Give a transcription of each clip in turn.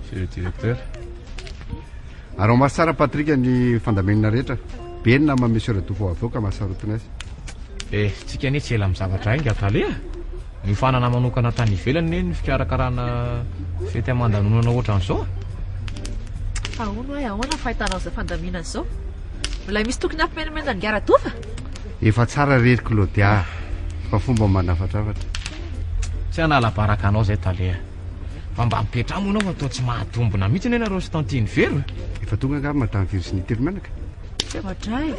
Monsieur le directeur. Ary maso tsara Patrick ny fandamenina rehetra. Be ny nama monsieur Radofo avoaka mahasarotina azy. Eh, tsika anie tsy ela amin'ny zavatra hainga Tale ah. Niofanana manokana tany ivelany ne ny fikarakarana fety aman-danonana ohatran'izao. Fa ahoana hoe ahoana ny fahitanao izao fandaminana izao? Mbola misy tokony hampimenamenana an'i Radofo? Efa tsara re ry Claudia a! Fa fomba manafatrafatra. Tsy hanala baraka anao zay tale a! Fa mba mipetraha moa anao fa toa tsy mahatombina mihitsy anie nareo sy tantine Vero e! Efa tonga angaha madame Virginie telo menaka? Tsy mahadra e!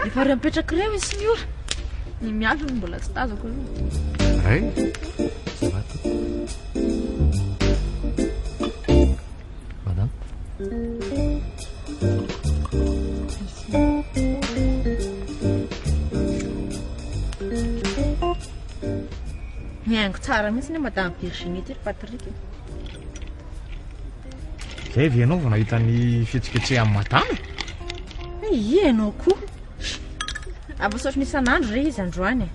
Efa re mipetraka re hoy Siniora! Ny miandry no mbola tsy tazako aloha. Ray? Madame. Mihaingo tsara mihitsy ny Madame Virginie ity ry Patrick. Zay ve ianao vao nahita ny fihetsiketsehan'i Madame? Eh, Ie ianao koa. Ampasaotry ny isan'andro re izy androany.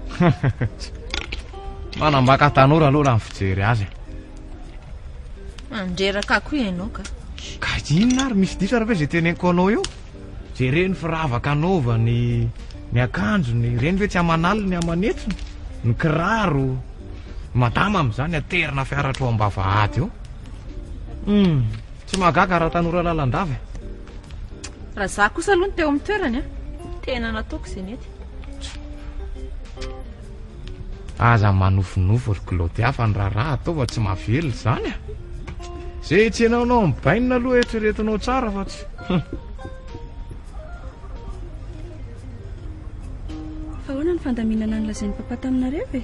Manambaka tanora aloha raha ny fijery azy. Mandreraka akoho ianao ka. Ka inona ary misy diso ary ve zay teneniko anao eo? Jereny firavaka anaovany, ny akanjony, ireny ve tsy aman'aliny ny aman'hetsiny, ny kiraro, madama amin'izany aterina fiara hatrao am-bavahady eo. Hum, tsy mahagaga raha tanora lalandava e. Raha za kosa aloha no teo amin'ny toerany a, tena nataoko izay nety. Aza manofinofy ry Claudia fa ny raharaha atao fa tsy mahavelona izany a. Izay hetsenao anao amin'ny bainina aloha eritreretinao tsara fa tsy. Fa ahoana ny fandaminana ny lazain'ny papa taminareo e?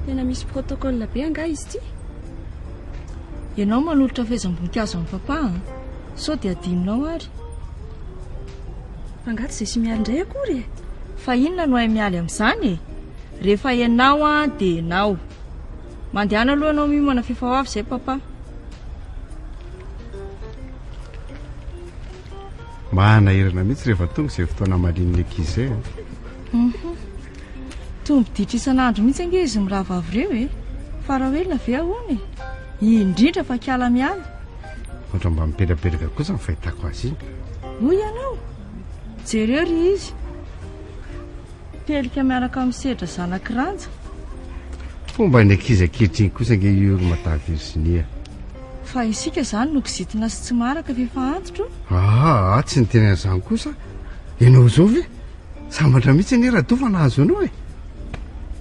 Tena misy protocole be angaha izy ity? Ianao manolotra fehezam-boninkazo amin'ny papa a. Sao dia adinonao ary. Fa nga tsy zay sy mialy indray akory e! Fa inona no hay mialy amin'izany e! Rehefa ianao an dia ianao. Mandehana aloha ianao miomana f'efa ho avy izay papa. Mahanahirana mihitsy rehefa tonga izay fotoana hamalian'ny ankizy izay an! Uhum. Toa miditra isan'andro mihitsy ange izy mirahavavy ireo e! Fa raha ho elona ve ahoana e! Indrindra fa kiala mialy. Ohatra mba mipetrapetraka kosa ny fahitako azy iny. Hoy ianao, jereo ry izy, pelika miaraka amin'ny sedra zanak'i Ranja. Fomba ny ankizy ankehitriny kosa ange io ry Madame Virginia. Fa isika izany no kizitina sy tsy maharaka fa efa antitro. Aa, tsy niteny an'izany kosa ianao izao ve? Sambatra mihitsy anie Rado fa nahazo anao e!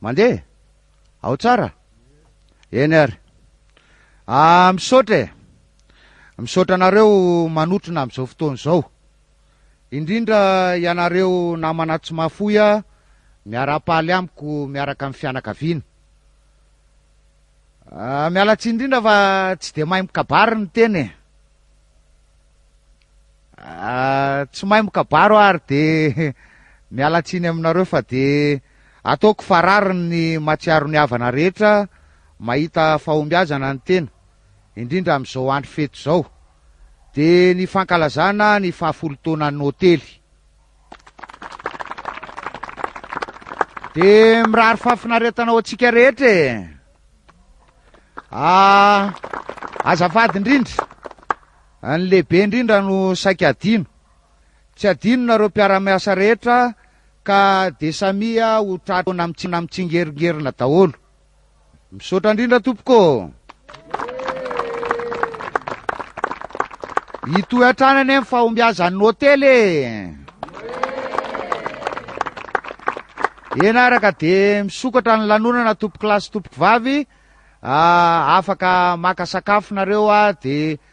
mandeha ao tsara eny ary ah, misaotra e misaotra anareo manotrona am'izao fotoana izao Indrindra ianareo namana tsy mahafoy a miarapaly amiko miaraka am fianakaviana ah miala tsiny indrindra fa tsy de mahay mikabary ny tena e ah tsy mahay mikabary aho ary de miala tsiny aminareo fa de ataoko farariny ny matsiaro ny havana rehetra mahita fahombiazana ny tena indrindra amizao andro fety zao dia ny fankalazana ny fahafolo taonan'ny hotely. Dia mirary fahafinaretana ho antsika rehetra e! Ah, azafady indrindra, ny lehibe indrindra no saika adino. Tsy adino nareo mpiara-miasa rehetra ka dia samia ho tratra mitsingerongerona daholo. Misaotra indrindra tompoko ô. Hitohy hatrany anie ny fahombiazan'ny hotely e. Eny araka dia misokatra ny lanonana tompoko lahy sy tompoko vavy. Ah, afaka maka sakafo nareo ah, dia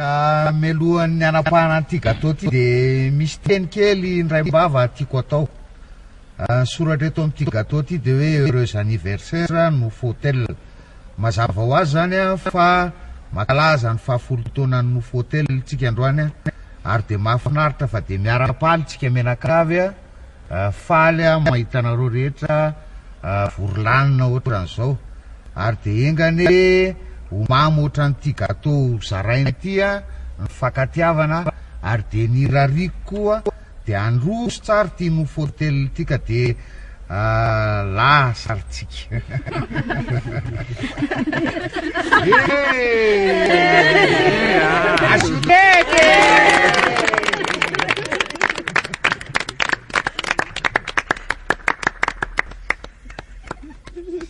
Ka melohan'ny hanapahana an'ity gateau ity dia misy teny kely indray mbava tiako atao. Ah, ny soratra eto amin'ity gateau ity dia hoe heureux anniversaire no Fotel. Mazava ho azy izany ah, fa mankalaza ny fahafolo taonan'ny Nofo Hotel tsika androany ah, ary dia mahafinaritra fa dia miara-paly tsika mianakavy ah. Faly aho mahita anareo rehetra vory lanona ohatran'izao. Ary dia enga anie ho mamy ohatran'ity gateau ho zaraina ity ny fankatiavana ary dia ny irariako koa dia handroso tsara ity nofo hotel ity ka dia lasa ry tsy.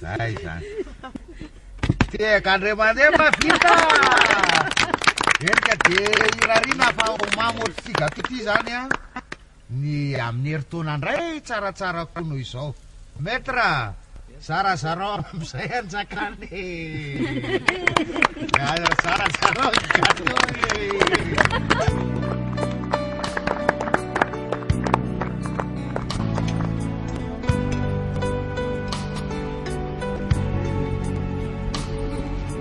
Zay zany. Tehaka andray aman-dreny fa vita! Eny ka dia irariana fa ho mamy ohatry sigato ity zany an. Ny amin'ny herintaona indray tsaratsara koa noho izao. Maître a! Zarazarao amin'izay anjakana e! Zarazarao ny gâteau e!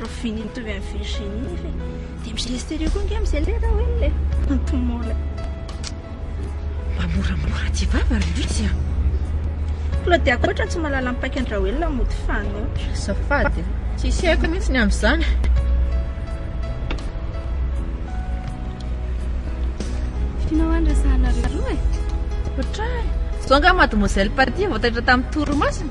Ravinia mitovy amin'i Virginie nefa e. Dia mi-stress telo koa ange amin'izay le Raoul e. Antomona. Mba moramora tsy vava ry Luizy a. Claudia koa ohatran'ny tsy mahalala ny paikan'i Raoul no mody fanoatra. Azafady e. Tsisy haiko mihitsy ny amin'izany. Tianao any resahanareo roa e. Ohatrany. Zao angaha mademoiselle Patty vao taitra tamin'ny torimasony?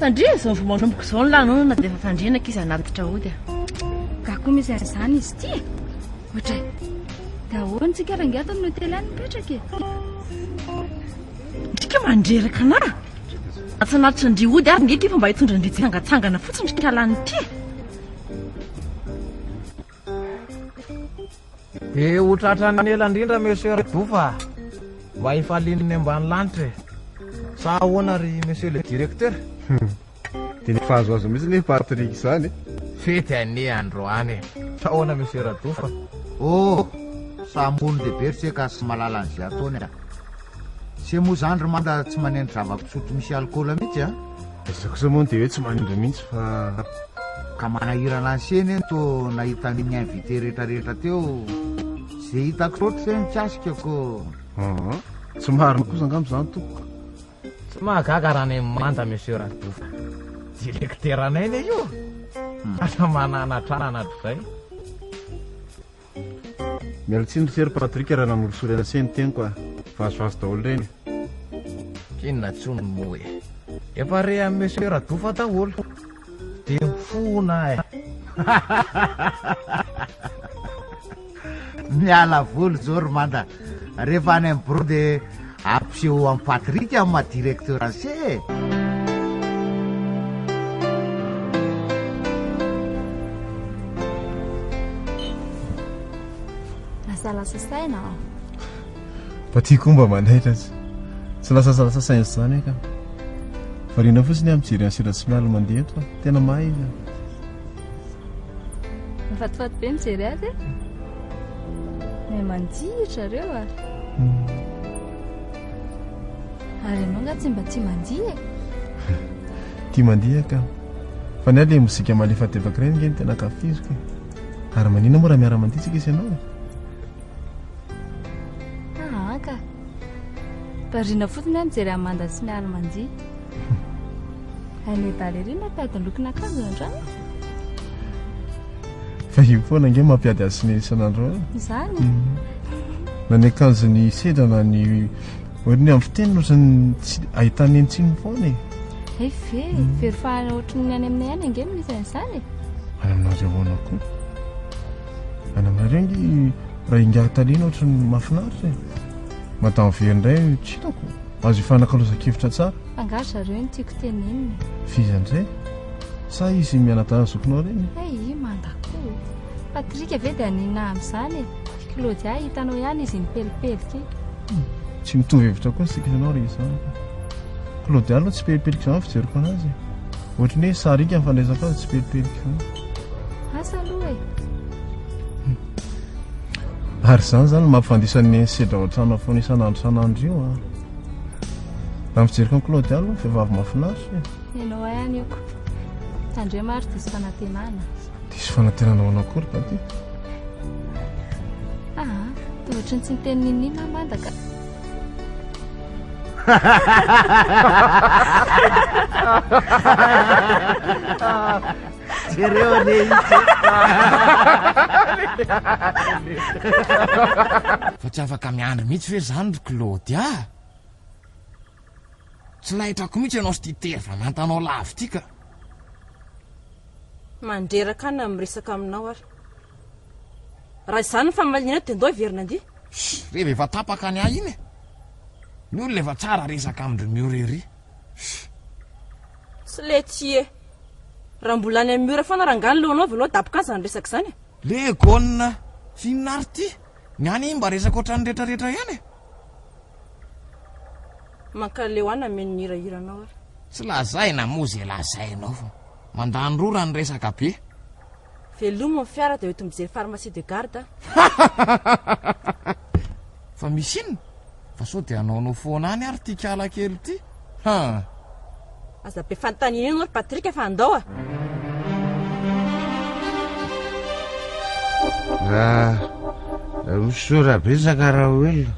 Tandremo izao vao manomboka izao ny lanonana dia efa tandrena ankizy hanatitra ody a. Gaga koa misy an'izany izy ity e. Ohatray. Dia ahoana tsika rangahy ato amin'ny hotely any mipetraka e. Ndrika mandreraka anà. Atsanatitra ndry ody ary nge ity fa mba hitondra ndry tsy hangatsangana fotsiny ndry kalan'ity e. Be ho tratran'ny ela indrindra Monsieur Redouf a! Mba hifalian'ny ambany lanitra e! Sa ahoana ry Monsieur le Directeur? Hum! Dia efa azoazo mihitsy anie Patrick izany e! Fety anie androany e! Sa ahoana Monsieur Radouf a! Oh! Sa ambony lehibe ry Seka sy mahalala an'izay ataony a! Se moa izany ry Manda tsy manendy zava-pisotro misy alikaola mihitsy a! Za kosa moa dia hoe tsy manindry mihitsy fa. Ka manahirana an'i Seny anie toa nahita an'iny invité rehetrarehetra teo. Izay hitako loatra izay mikasika ko. Hum, tsy marina kosa angamba izany tompoko. Tsy mahagaga raha ny manja monsieur Radofa. Directeranay anie io. Lasa mananatra anatra izay. Miala tsiny ry se ry Patrick raha nanolosolo ela se ny teniko a! Vazovazo daholo ireny e! Inona intsony moa e! Efa re an'i Monsieur Radofa daholo dia mifona e! Miala voly izao ry Manda Rehefa any am bureau de ampiseho am Patrick am ma directeur ase e. Lasa lasa saina aho. Patrick koa mba manaitra tsy tsy lasa lasa saina tsy zany eka. Variana fotsiny aho mijery an Sira Smial mandeha eto. Tena mahay izy. Mifatifaty be mijery azy e. Mahay mandihy zareo a. Ary ianao nga tsy mba tsy mandihy e. Tia mandihy ka. Fa ny ahy ilay mozika malefadefaky ireny nge ny tena ankafiziko e. Ary maninona moa raha miara-mandihy tsika sy ianao e? Aa ka. Variana fotsiny aho mijery an'i Manda sy Mialy mandihy. Hainay dahalo ery mampiady ny lokon'akanjo androany. Vahiny foana ange mampiady azy sy ny isan'andro eo. Izany. Na ny akanjon'ny sedra na ny ohatry ny amin'ny fiteny ohatrany tsy ahitana eny tsiny foana e. Hay ve, very fahana ohatry ny any aminay any ange no misy an'izany e. Any aminareo ahoana koa? Any aminareo nge raha ingahy taliana ohatra ny mahafinaritra e. Madame Very indray tsy hitako. Azo ifanakalozan-kevitra tsara. Angaha zareo no tiako tenenina. F'iza indray? Sa izy mianadahy zokinao ireny? Hey, mandako. Patrick ve dia aninona amin'izany e? Claudia, hitanao ihany izy mipelipelika e. Hmm, tsy mitovy hevitra koa isika ianao rehefa izany. Claudia aloha tsy pelipelika izany fijeriko anazy. Ohatran'ny hoe sarika ny fandraisako azy tsy pelipelika. Asa aloha e! Ary izany izany no mampifandisa ny sedra ao an-trano foana isan'andro isan'andro io an. Raha ny fijeriko an'i Claude aloha, vehivavy mahafinaritra e. Ianao hay any oko. Tandremo ary diso fanantenana. Diso fanantenana ho anao akory va ty? Ah, dia ohatran'ny tsy niteny n'inon'inona aho manda ka. Jereo anie izy Fa tsy afaka miandry mihitsy ve zany ry Claude ah? Tsy lahitrako mihitsy ianao sy ity terva nantanao lavo ity ka. Mandreraka ahy na miresaka aminao ary. Raha izany ny famalianao dia ndao hiverina andia. Shh! Reva efa tapaka ny ahy iny e! Ny olona efa tsara resaka amin-dry Mioreri. Sy letsy e! Raha mbola any amin'ny ora foana rangah ny lohanao avy aloha daboka izany resaka izany e! Le gone inona ary ty? Ny any mba resaka ohatran'ny retraretra ihany e! Mankaleo ahy nameno ny hirahiranao ary. Tsy lazaina moa ze lazainao fa mandany rora ny resaka be. Velomo ny fiara dia hoento mijery pharmacie de garde an! Fa misy inona? Fa sao dia hanaonao foana any ary ity kala kely ity? Haa! Aza be fanontaniana enao ry Patrick fa andao a! Raha misaora betsaka Raoelina.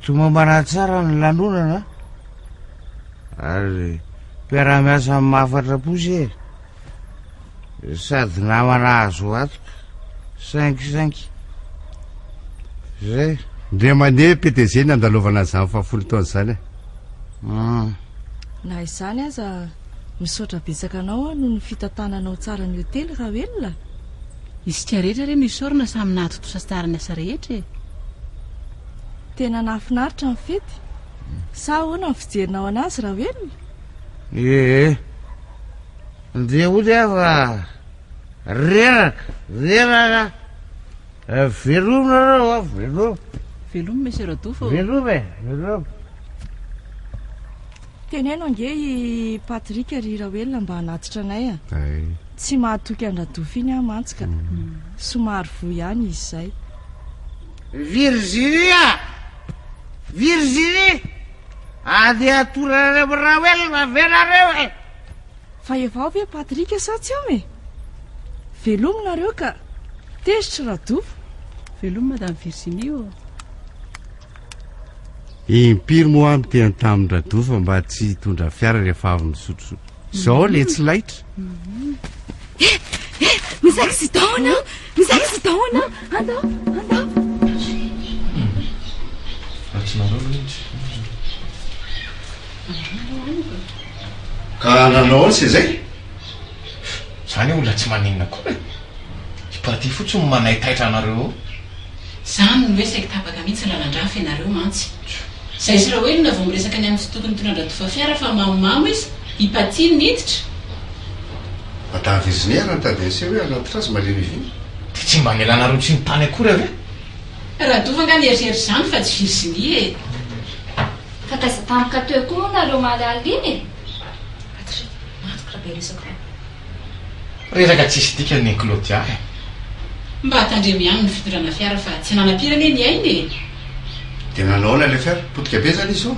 Tomambana tsara ny lanonana ary mpiara-miasa mafatra-po se. Sady namana azo antoka, saingy, saingy, zay. Ndray mandeha PDG ny andalovana an'izany fahafolo taona izany e. Hmm. Na izany aza, misaotra betsaka anao aho noho ny fitantananao tsara ny hotely, Rawelina. Isika rehetra re no isaorana samy nahatontosa tsara ny asa rehetra e. Tena nahafinaritra ny fety. Sa ahoana ny fijerinao an'azy, Rawelina? Ee. Dia hoy aza, Reraka, reraka, veloma nareo a, veloma. Veloma Monsieur Radofy ô. Veloma e, veloma. Teneno ange i Patrick ry Raoelina mba hanatitra anay a. Tsy mahatoky an-dRadofy iny aho mantsy ka. Mm. Somary voa ihany izy izay. Virginia! Virginie! Andeha hatoranan'i Raoelina ve nareo e? Fa evaho ve Patrick sa tsy ao e? Velomy nareo ka! Tezitra Rado! Velomy Madame Virginie ô! Impiry moa aho niteny tamin'i Rado fa mba tsy hitondra fiara rehefa avy misotro zao le tsy laitra? Eh, eh, misy accident ao! Misy accident ao! Andao, andao! Ratsy nareo loha izy. Ka nanao aosa izay? Zany io olona tsy maninona koa e! Ipaty fotsiny no manaitaitra anareo eo. Zany no hoe saiky tapaka mihitsy lalandrafy ianareo mantsy. Zaizy Raoelina vao miresaka ny amin'ny fitoky nitondra an-dRatovafiara fa mamomamo izy, Ipaty no niditra. Madame Virginie ary nitady an'ise hoe hanatitra azy malemy vina. Dia tsy mba nelanareo tsy nitany akory ary e! Radova nga nierihery izany fa tsy Virginie e! Fa taiza tampoka teo koa moa nareo omaly alina iny e! Patrick, matoky raha be resaka io. Reraka tsisy dikany ry Claudia eh! Mba tandremo ihany ny fitondrana fiara fa tsy nanam-piry anie ny ainy e! Dia nanao ahoana ilay fiara? Potika be izany izy ô!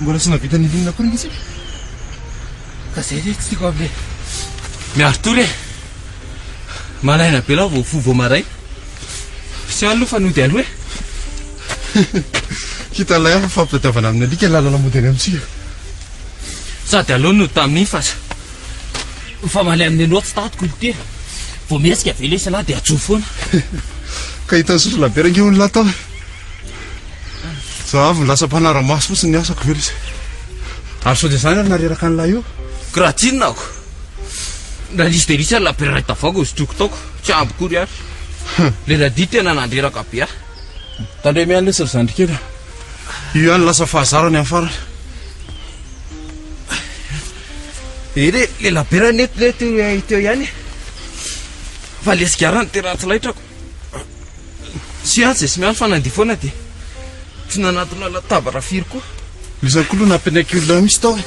Mbola tsy nahavita nilinina koa mihitsy. Ka zay re tsy tiako avy le. Miaro tory e. Malaina be lao vao fo vao maray. Tsy alo fa nody alo e. Hita ilay hafa fampitadiavana amin'ny alika ny lalana mody any amintsika. Sady alo no tamin'iny fa fa malay amin'ny aloha tsy tatiko ny tena. Vao mihetsika ve lesy lahy dia ajoa foana. Ka hitan'i Sosolabera ange olona tao. Zahavo lasa mpanara-maso fotsiny ny asako ve lesy Ary sao dia zany ary nary reraka an'ilay io Kiraha tsinona ako Raha lisy dia lisy ary lapera iray tavoahangy hosotroiko tao ko Tsy ampy kory ary Le Radi tena nandreraka be ahy Tandremo ihany lesy ry zandry kely a Io ihany lasa fahazarany amin'ny farany Eh le le lapera nety le teo teo ihany e Fa le sigara no tena tsy laitrako Tsy atsy e, tsy miandry fa nandeha foana dia tsy nanatona latabatra firy koa. Iza koa aloha nampianay kely olona misy tao e.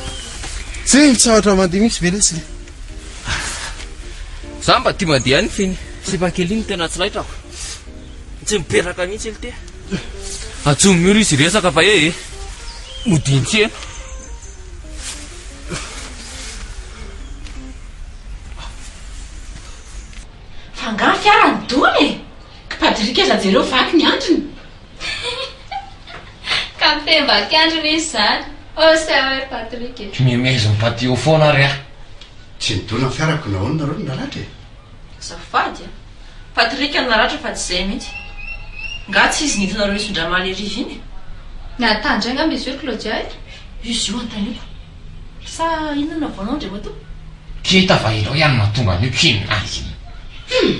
Tsy mitsaotra mandeha mihitsy ve lesy le. Za mba tia mandeha ihany fa iny sipa kely iny no tena tsy laitrako. Tsy mipetraka mihitsy iny te. Atsimo miholo izy hiresaka fa ee. Modian-tsena. Fa angaha fiara no dona e? Kpadrick aza jereo vaky ny andriny. Ka miteny vaky andriny izy zany. Oh sa hoe Patrick e. Mimezim patio foana ary aho. Tsy nidona ny fiarako nahoana nareo no naratra e? Azafady a! Patrick no naratra fa tsy izay mihitsy. Ngaha tsy izy nidina roa isin-dRamale hariva iny e? Nahatandry ahy angamba izy io ry Claudia e? Izy io antaniko. Sa inona no havaonao ndry matoa? Kee tava ireo ihany mahatonga an'io kee ninazy iny. Humm!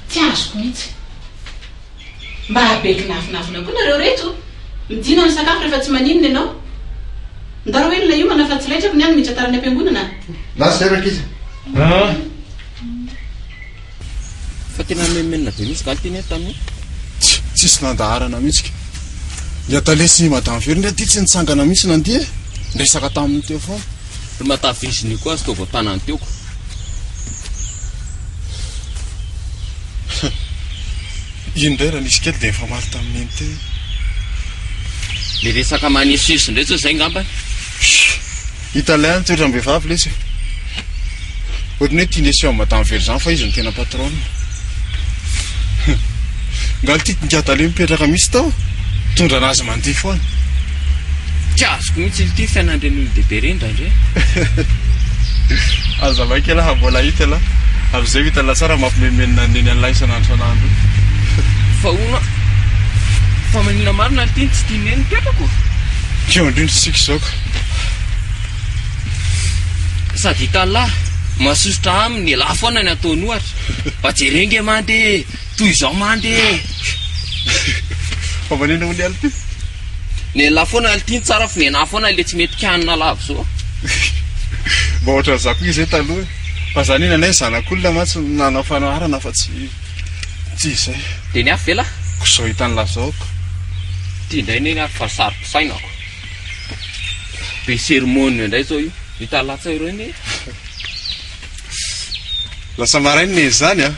Tsy azoko mihitsy. Mba be kinafinafina koa nareo reto. Midina ny sakafo rehefa tsy maninona ianao. Ndao rahoe nona hiomana fa tsy laitrako ny ahy ny miditra tara any am-piangonana a! Lasa ireo ankizy. Humm! Fa tena menomenona be mihitsy galy teny eh tamin'ny Tsy tsisy nandaharana mihitsy ka. Ny Atale sy Madame Vero ndray ity tsy nitsangana mihitsy nandihy eh. Niresaka taminy teo foana. Ry Mata Virginie koa aza toa vao tanany teo ko. Iny indray raha nisy kely dia nifamaly tamin'i Neny teo iny. Le resaka manesoeso indray sao izay ngamba eh. Italien ny toetrany vehivavy lesy e. Ohatran'ny hoe tiany asio madame very zany fa izy no tena patronne. Nga ity tingadala io mipetraka mitsy tao mitondra anazy mandeha foana. Tsy azoko mitsy ity fiainan'ireny olon-dehibe ireny indraindray. Aza maika elah mbola hahita elah. Avy izay ho hita la tsara mampimemenina ny neny an'lah isan'andro isan'andro. Fa hono fa maninona marina ry ty no tsy tian'ny neny mipetraka ô? Keo indrindra isika izao ka. Sady itallah, mahasosotra aminy, elah foana ny ataony ohatra, mba jere nge mande e, toy izao mande e. Fa manina hono i Alty? Ny elah foana Alty no tsara fa ny enaha foana ilay tsy mety kianina lava zao. Mba ohatran za koa izay taloha e, fa za nena nay zanak'olona mantsy no nanao fanoharana fa tsy tsy izay. Dia ny hafa ve lah? Koa zao hitanlah zao ko. Ty indray neny ary fa saro pisaina ako. Be sermônia indray izao io. Hita latsa ireo anie. Lasa marainina e izany an!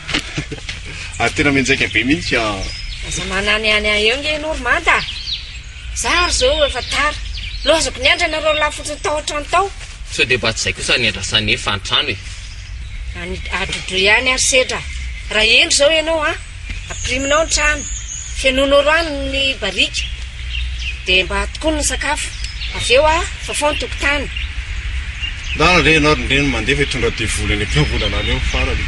Ary tena mianjaika be mihitsy an! Aza mananiany ahy eo nge Normand a! Za ary izao efa tara. Loazako ny andra nareo lahy fotsiny tao an-trano tao. Sao dia mba tsy izay kosa ny iandrasan'ny efa an-trano e! Any adrodroy any ary sedra. Raha hendry izao ianao an! Ampiriminao ny trano, fenoinao rano ny barika, dia mba tokony ny sakafo. Avy eo aho, fafao ny tokotany. Ndana re ianao ry ndreny mandefa hitondra devoly any am-piangonana any eo farany.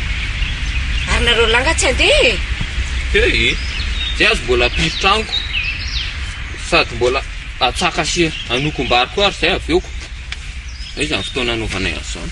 Ary nareo lahy nga tsy handeha e! Hey e! Zay aza mbola ampiro tranoko sady mbola atsaka sy anoko am-bary koa ary zay aveoko. Aiza ny fotoana anaovanay an'izany?